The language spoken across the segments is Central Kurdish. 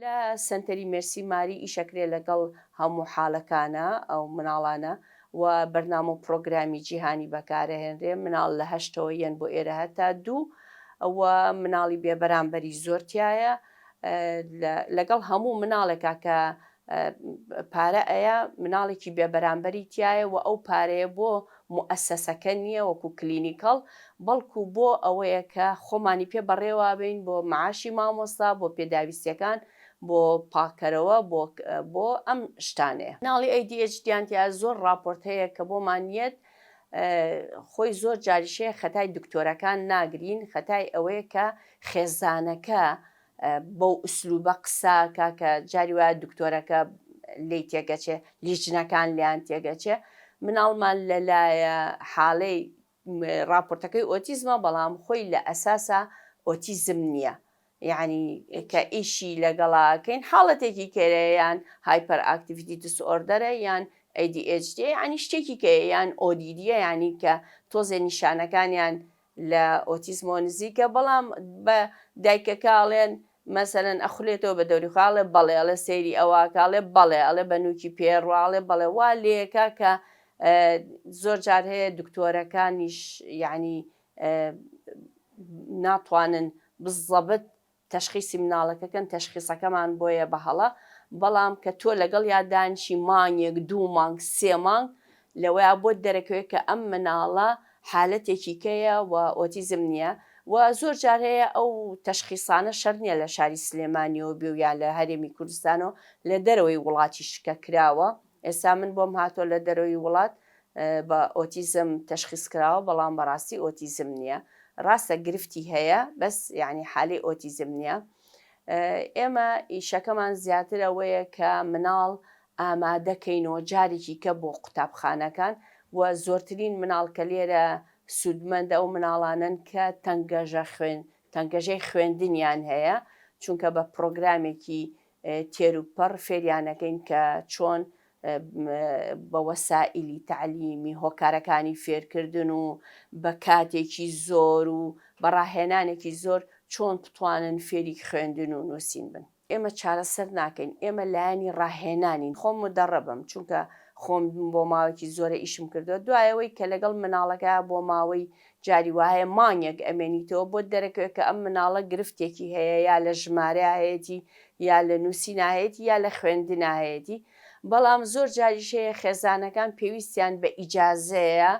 لە سەنتەری مێرسی ماری ئیشەکرێ لەگەڵ هەموو حالەکانە ئەو مناڵانە وە بەرنامە و پرۆگرامی جیهانی بەکارەهێنرێ مناڵ لە هەشتەوە یەن بۆ ئێرە هەتا دوو وە مناڵی بێ بەرامبەری زۆر تیایە لەگەڵ هەموو مناڵێکا کە پارە ئەیا مناڵێکی بێ بەرامبەری تیایە وە ئەو پارەیە بۆ موئەسەسەکە نییە وەکو کلینیکەڵ بەڵکو بۆ ئەوەیە کە خۆمانی پێ بەڕێوابەین بۆ معاشی مامۆستا بۆ پێداویستیەکان بۆ پاکەرەوە بۆ بۆ ئەم شتانەیە. ناڵی ئەی دی ئێچ دیان تیا زۆر ڕاپۆرت هەیە کە بۆمان یەت خۆی زۆر جاریش هەیە خەتای دکتۆرەکان ناگرین خەتای ئەوەیە کە خێزانەکە بەو ئسلوبە قساکە کە جاری وایە دکتۆرەکە لێی تێگەچێ لیژنەکان لێیان تێگەچێ مناڵمان لەلایە حاڵەی ڕاپۆرتەکەی ئۆتیزمە بەڵام خۆی لە ئەساسا ئۆتیزم نییە یعنی کە ئیشی لەگەڵاکەین حاڵەتێکی کێرەیان هایپەر ئاکتیڤیتی دسئۆردەرە یان ADHD ینی شتێکی کە یان ئۆدیدیە ینی کە تۆزێ نیشانەکانیان لە ئۆتیزمەوە نزیکە بەڵام بە دایکەکە ئەڵێن مەسەلەن ئەخولێتەوە بە دەوری خۆی ئەڵێ بەڵێ ئەڵێ سەیری ئەوە ئەکا ئەڵێ بەڵێ ئەڵێ بە نووکی پێیە ڕوا ئەڵێ بەڵێ وا لێکا کە زۆر جار هەیە دکتۆرەکانیش یانی ناتوانن بزەبت تەشخیسی مناڵەکەکەن تەشخیسەکەمان بۆیە بە هەڵە بەڵام کە تۆ لەگەڵیا دانیشی مانگێک دوو مانگ سێ مانگ لەوەیا بۆت دەرەکەوێت کە ئەم مناڵە حالەتێکی کەیە و ئۆتیزم نیە و زۆر جار هەیە ئەو تەشخیسانە شەرت نیە لە شاری سلێمانیەوە بێ و یان لە هەرێمی کوردستانەوە لە دەرەوەی وڵاتیش کە کراوە ئێستا من بۆم هاتووە لە دەرەوەی وڵات بە ئۆتیزم تەشخیس کراوە بەڵام بەڕاستی ئۆتیزم نییە ڕاستە گرفتی هەیە بەس یانی حالەی ئۆتیزم نییە ئێمە ئیشەکەمان زیاتر ئەوەیە کە مناڵ ئامادەکەینەوە جارێکی کە بۆ قوتابخانەکان و زۆرترین مناڵ کە لێرە سوودمەندە ئەو مناڵانن کە تەنگەژە خوێن تەنگەژەی خوێندنیان هەیە چونکە بە پرۆگرامێکی تێروپەڕ فێریانەکەین کە چۆن بە وەسائیلی تەعلیمی هۆکارەکانی فێرکردن و بە کاتێکی زۆر و بە ڕاهێنانێکی زۆر چۆن بتوانن فێری خوێندن و نووسین بن. ئێمە چارەسەر ناکەین، ئێمە لایەنی ڕاهێنانین. خۆم مودەڕەبم، چونکە خۆم بۆ ماوەیەکی زۆرە ئیشم کردووە، دوای ئەوەی کە لەگەڵ مناڵەکە بۆ ماوەی جاری وایە مانگێک ئەمێنیتەوە بۆت دەرەکەوێ کە ئەم مناڵە گرفتێکی هەیە یا لە ژمارەیا هەیەتی یا لە نوسینا هەیەتی یا لە خوێندنا هەیەتی بەڵام زۆر جاریش هەیە خێزانەکان پێویستیان بە ئیجازەیە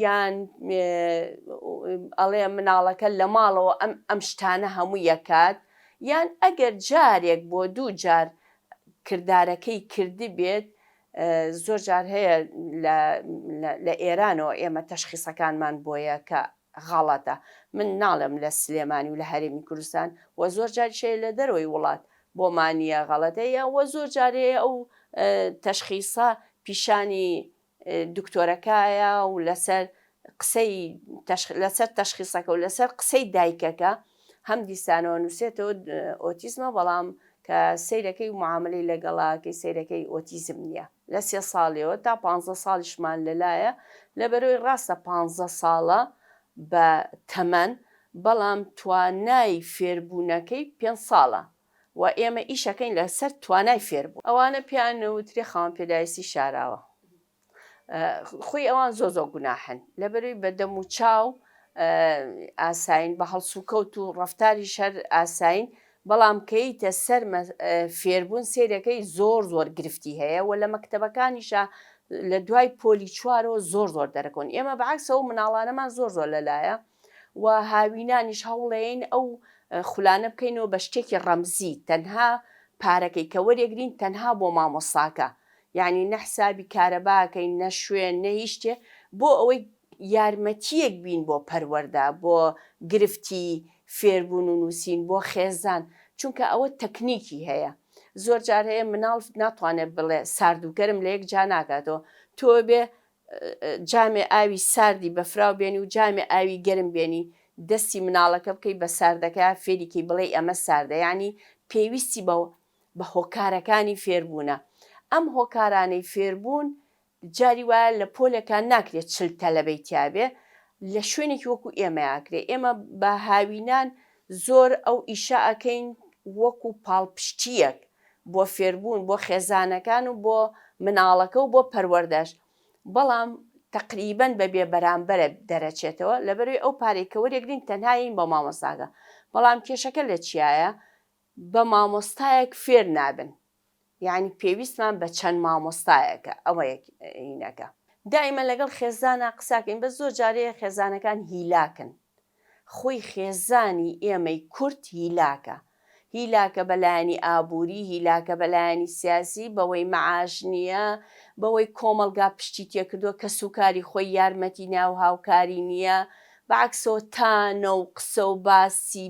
یان ئەڵێ مناڵەکە لە ماڵەوە ئەم ئەم شتانە هەموو یەکات یان ئەگەر جارێک بۆ دوو جار کردارەکەی کردبێت زۆر جار هەیە لە لە ئێرانەوە ئێمە تەشخیسەکانمان بۆیە کە غەڵەتە من ناڵێم لە سلێمانی و لە هەرێمی کوردستان و زۆر جاریش هەیە لە دەرەوەی وڵات بۆمان نییە غەڵەتە یان وە زۆر جار هەیە ئەو تەشخیسە پیشانی دکتۆرەکایە و لەسەر قسەی تەشخ لەسەر تەشخیسەکە و لەسەر قسەی دایکەکە هەم دیسانەوە نووسێتەوە ئۆتیزمە بەڵام کە سەیرەکەی و معامەلەی لەگەڵاکەی سەیرەکەی ئۆتیزم نییە لە سێ ساڵیەوە تا پانزە ساڵیشمان لەلایە لەبەرەوەی ڕاستە پانزە ساڵە بە تەمەن بەڵام توانای فێربوونەکەی پێنج ساڵە و ئێمە ئیشەکەین لەسەر توانای فێربوون ئەوانە پێیان نەوترێ خاوەن پێداویستی شاراوە. خوی ئەوان زۆر زۆر گوناحن لەبەروی بە دەم و چاو ئاساین بە هەڵسوکەوت و ڕفتاری شەر ئاساین بەڵام کەیتە سەر فێربوون سێرەکەی زۆر زۆر گرفتی هەیە و لە مەکتتەبەکانیشە لە دوای پۆلی چوارەوە زۆر زۆر دەرەکەون ئێمە بەعکسەوە مناڵانەمان زۆر زۆر لەلایە و هاوینانیش هەوڵێین ئەو خولانە بکەینەوە بە شتێکی ڕەمزی تەنها پارەکەی کە وەرێگرین تەنها بۆ مامۆساکە یانی نە حسابی کارەبا ئەکەین نە شوێن نە هیچ شتێ بۆ ئەوەی یارمەتیەک بین بۆ پەروەردە بۆ گرفتی فێربون و نوسین بۆ خێزان چونکە ئەوە تەکنیکی هەیە زۆر جار هەیە مناڵ ناتوانێت بڵێ ساردوکەرم لە یەک جا ناکاتەوە تۆ بێ جامێ ئاوی ساردی بەفراو بێنی و جامێ ئاوی گەرم بێنی دەستی مناڵەکە بکەی بە ساردەکە فێریکەی بڵێ ئەمە ساردە یانی پێویستی بە بە هۆکارەکانی فێربوونە. ئەم هۆکارانەی فێربوون جاری وایە لە پۆلێکا ناکرێ چل تەلەبەی تیا بێ، لە شوێنێکی وەکوو ئێمە ئەکرێ. ئێمە بە هاوینان زۆر ئەو ئیشە ئەکەین وەکوو پاڵپشتییەک بۆ فێربوون، بۆ خێزانەکان و بۆ مناڵەکە و بۆ پەروەردەش. بەڵام تەقریبەن بە بێ بەرامبەرە دەرەچێتەوە. لەبەروەی ئەو پارەی کە وەرێگرین تەنها یەین بە مامۆستاکە. بەڵام کێشەکە لە چیایە؟ بە مامۆستایەک فێر نابن یانی پێویستمان بە چەند مامۆستایەکە ئەوە یەکینەکە دائیمەن لەگەڵ خێزانا قساکەین بەس زۆر جارەیە خێزانەکان هیلاکن خۆی خێزانی ئێمەی کورد هیلاکە هیلاکە بە لایەنی ئابووری هیلاکە بە لایەنی سیاسی بەوەی مەعاش نییە بەوەی کۆمەڵگا پشتی تێکردووە کەس و کاری خۆی یارمەتی ناو هاوکاری نییە بەعەکسەوە تا نەو قسە و باسی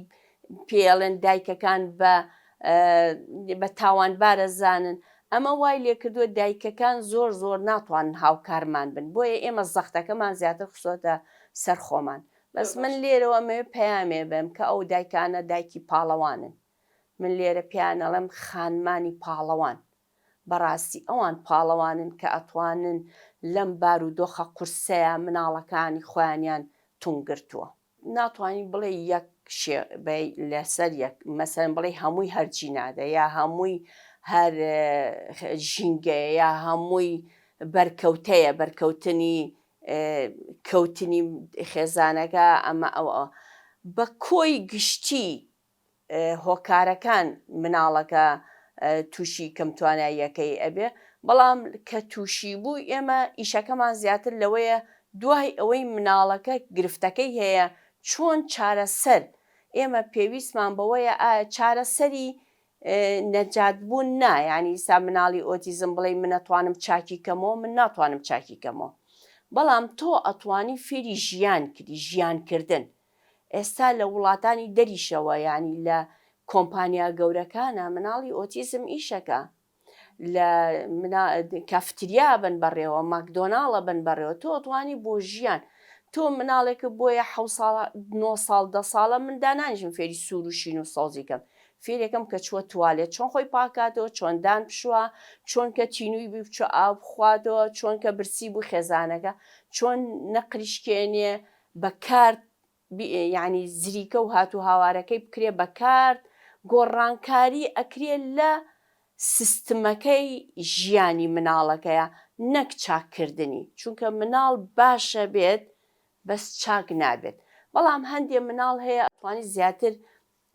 پێیەڵێن دایکەکان بە بە تاوانبارە زانن ئەمە وای لێکردوە دایکەکان زۆر زۆر ناتوانن هاوکارمان بن بۆیە ئێمە زەختەکەمان زیاتر خسۆتە سەر خۆمان بەس من لێرەوە مەوێ پەیامێ بەم کە ئەو دایکانە دایکی پاڵەوانن من لێرە پێیانەڵێم خانمانی پاڵەوان بەڕاستی ئەوان پاڵەوانن کە ئەتوانن لەم بارودۆخە قورسەیە مناڵەکانی خۆیانیان تونگرتووە. ناتوانی بڵێ یەک شێ بەی لەسەر یەک مەسەن بڵێ هەمووی هەر جینادە یا هەمووی هەر ژینگەیە یا هەمووی بەرکەوتەیە بەرکەوتنی کەوتنی خێزانەکە ئەمە ئەوە بە کۆی گشتی هۆکارەکان مناڵەکە توشی کەم تواناییەکەی ئەبێ بەڵام کە توشی بوو ئێمە ئیشەکەمان زیاتر لەوەیە دوای ئەوەی مناڵەکە گرفتەکەی هەیە چۆن چارەسەر ئێمە پێویستمان بەوەیە ئایا چارەسەری نەجات بوون نا یانی ئیستا مناڵی ئۆتیزم بڵێ من ئەتوانم چاکی کەمەوە من ناتوانم چاکی کەمەوە بەڵام تۆ ئەتوانی فێری ژیان کردی ژیان کردن ئێستا لە وڵاتانی دەریشەوە یانی لە کۆمپانیا گەورەکانە مناڵی ئۆتیزم ئیشەکە لە منا کافتریا بن بەڕێوە ماکدۆناڵە بن بەڕێوە تۆ توانی بۆ ژیان تۆ مناڵێکە بۆیە حە ساڵ نۆ ساڵ دە ساڵە من دانانیشم فێری سوور و شین و سەوزی کەم فێرێکم کە چووە توالێت چۆن خۆی پاکاتەوە چۆن دان پشووە چۆن کە تینووی بی بچوە ئاو بخواتەوە چۆن کە برسی بوو خێزانەکە چۆن نەقریشکێنێ بە کارت یانی زریکە و هاتوو هاوارەکەی بکرێ بە کارت گۆڕانکاری ئەکرێ لە سستمەکەی ژیانی مناڵەکەیا نەک چاک کردنی چونکە مناڵ باشە بێت بەس چاک نابێت بەڵام هەندێ مناڵ هەیە ئەتوانی زیاتر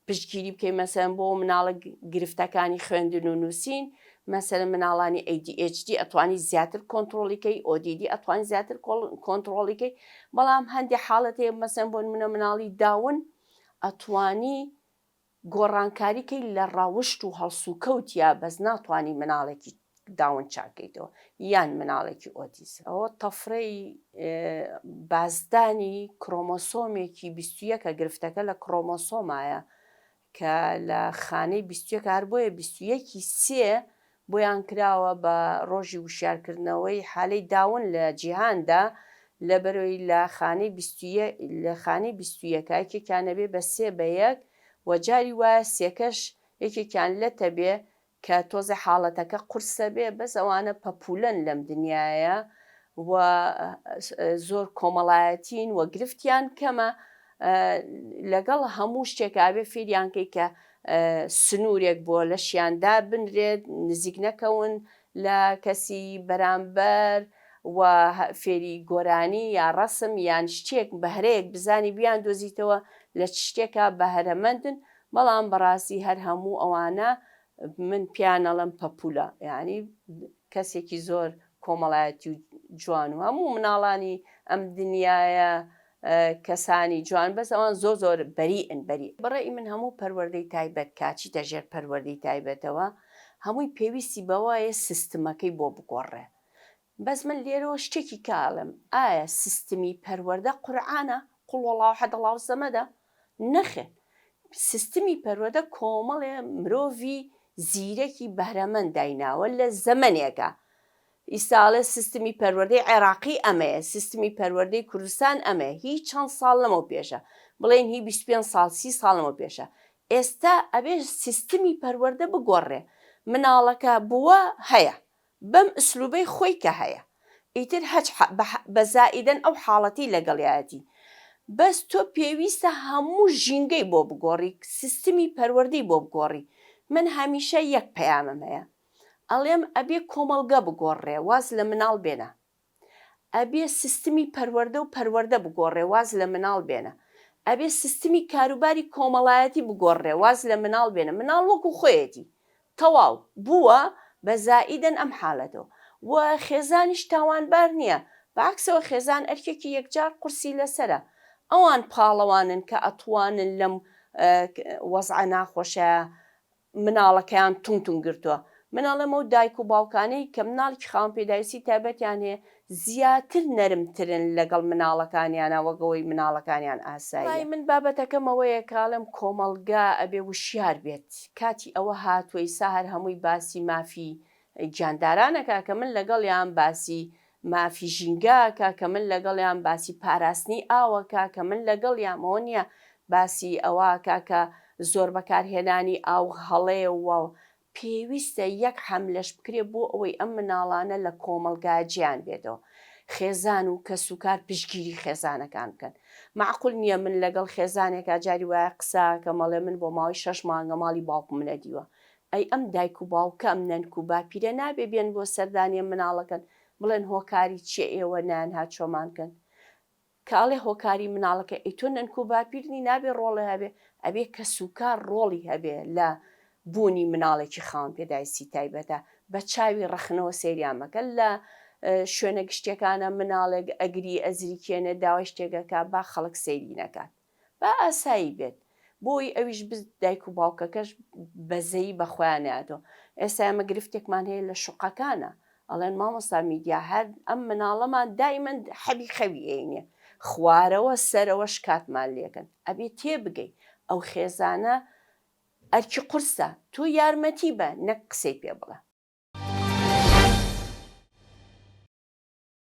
پشتگیری بکەین مەسەلەن بۆ مناڵە گرفتەکانی خوێندن و نوسین مەسەلەن مناڵانی adhd ئەتوانی زیاتر کۆنتڕۆڵی کەی ئۆدیدی ئەتوانی زیاتر کۆنتڕۆڵی کەی بەڵام هەندی حاڵەت هەیە مەسەن بۆن منە مناڵی داون ئەتوانی گۆڕانکاریکەی لە ڕاوشت و هەڵسوکەوت یا بەس ناتوانانی مناڵێکی داون چاکەیتەوە یان مناڵێکی ئۆتیزم ئەوە تەفرەی بازدانی کرۆمۆسۆمێکی بیست و یەکە گرفتەکە لە کرۆمۆسۆمایە کە لە خانەی بیست و یەکە هەر بۆیە بیست و یەکی سێ بۆیان کراوە بە ڕۆژی وشیارکردنەوەی حالەی داون لە جیهاندا لەبەرەوەی لە خانەی بیست و یەک لە خانەی بیست و یەکە یەکێکیان نەبێ بە سێ بە یەک و جاری وایە سێکەش یەکێکیان لەتە بێ کە تۆزێ حاڵەتەکە قورسە بێ بەس ئەوانە پەپولەن لەم دنیایە و زۆر کۆمەڵایەتین و گرفتیان کەمە لەگەڵ هەموو شتێک ئابێ فێریان کەی کە سنورێک بۆ لەشیان دابنرێت نزیک نەکەون لە کەسی بەرامبەر و فێری گۆرانی یا ڕەسم یان شتێک بەهرەیەک بزانی بیان دۆزیتەوە لە چ شتێکا بەهرەمەندن بەڵام بەڕاستی هەر هەموو ئەوانە من پێیان ئەڵێم پەپوولە یانی کەسێکی زۆر کۆمەڵایەتی و جوان و هەموو مناڵانی ئەم دنیایە کەسانی جوان بەس ئەوان زۆر زۆر بەریئن بەری. بەڕای من هەموو پەروەردەی تایبەت کا چیتە ژێر پەروەردەی تایبەتەوە هەمووی پێویستی بەوەیە سیستمەکەی بۆ بگۆڕێ بەس من لێرەوە شتێکی کە ئەڵێم ئایا سیستمی پەروەردە قورعانە قولوەڵاوحەدەڵاوسەمەدە نەخێر سیستمی پەروەردە کۆمەڵێ مرۆڤی زیرەکی بەهرەمەند دایناوە لە زەمەنێکا ئیستا ئەڵێ سیستمی پەروەردەی عێراقی ئەمەیە سیستمی پەروەردەی کوردستان ئەمەیە هی چەند ساڵ لەمەو پێشە بڵێن هی بیست پێنج ساڵ سی ساڵ لەمەو پێشە ئێستا ئەبێ سیستمی پەروەردە بگۆڕرێ مناڵەکە بووە هەیە بەم ئسلوبەی خۆی کە هەیە ئیتر هەچ حە بە حە بە زائیدەن ئەو حاڵەتی لەگەڵیایەتی بەس تۆ پێویستە هەموو ژینگەی بۆ بگۆڕی سیستمی پەروەردەی بۆ بگۆڕی من هەمیشە یەک پەیامم هەیە ئەڵێم ئەبێ کۆمەڵگە بگۆڕرێ واز لە مناڵ بێنە ئەبێ سیستمی پەروەردە و پەروەردە بگۆڕێ واز لە مناڵ بێنە ئەبێ سیستمی کاروباری کۆمەڵایەتی بگۆڕرێ واز لە مناڵ بێنە مناڵ وەکو خۆیەتی تەواو بووە بە زائیدەن ئەم حالەتەوە و خێزانیش تاوانبار نیە بە عەکسەوە خێزان ئەرکێکی یەکجار قورسی لەسەرە ئەوان پاڵەوانن کە ئەتوانن لەم وەزعە ناخۆشە مناڵەکەیان توم توم گرتووە. من ئەڵێم ئەو دایک و باوکانەی کە مناڵێکی خاوەن پێداویستی تایبەتیان هەیە زیاتر نەرمترن لەگەڵ مناڵەکانیانا وەک ئەوەی مناڵەکانیان ئاساییە. بەڕای من بابەتەکەم ئەوەیە کە ئەڵێم کۆمەڵگا ئەبێ وشیار بێت کاتی ئەوە هاتووە ئیسا هەر هەمووی باسی مافی گیانداران ئەکا کە من لەگەڵیام باسی مافی ژینگە کە کە من لەگەڵیام باسی پاراستنی ئاوە کە کە من لەگەڵیام ئەوە نیە باسی ئەوە کە کە زۆر بەکار هێنانی ئاو هەڵەیە و پێویستە یەک حەملەش بکرێ بۆ ئەوەی ئەم مناڵانە لە کۆمەڵگا جێیان بێتەوە خێزان و کەس و کار پشتگیری خێزانەکان بکەن مەعقول نیە من لەگەڵ خێزانێکا جاری وایە قسە کەم ئەڵێ من بۆ ماوەی شەش مانگە ماڵی باوکم نەدیوە ئەی ئەم دایک و باوکە ئەم نەنک و باپیرە نابێ بێن بۆ سەردانیە مناڵەکەن بڵێن هۆکاری چیە ئێوە نان هات چۆمان کەن کە ئەڵێ هۆکاری مناڵەکەی ئەی تۆ نەنک و باپیر نی نابێ ڕۆڵێ هەبێ ئەبێ کەس و کار ڕۆڵی هەبێ لە بوونی مناڵێکی خاوەن پێداویستی تایبەتە بە چاوی ڕەخنەوە سەیریان مەکە لە شوێنە گشتیەکانە مناڵێک ئەگری ئەزریکێنێ داوای شتێک ئەکا با خەڵک سەیری نەکات. با ئاسایی بێت بۆی ئەویش بز دایک و باوکەکەش بەزەیی بەخۆیان نایەتەوە ئێستا ئێمە گرفتێکمان هەیە لە شوقەکانە ئەڵێن مامۆستا میدیا هەر ئەم مناڵەمان دایمەن حەبی خەوی ئێینێ خوارەوە سەرەوە شکاتمان لێکەن ئەبێ تێبگەی ئەو خێزانە ئەرکی قورسە تۆ یارمەتی بە نەک قسەی پێ بڵێ.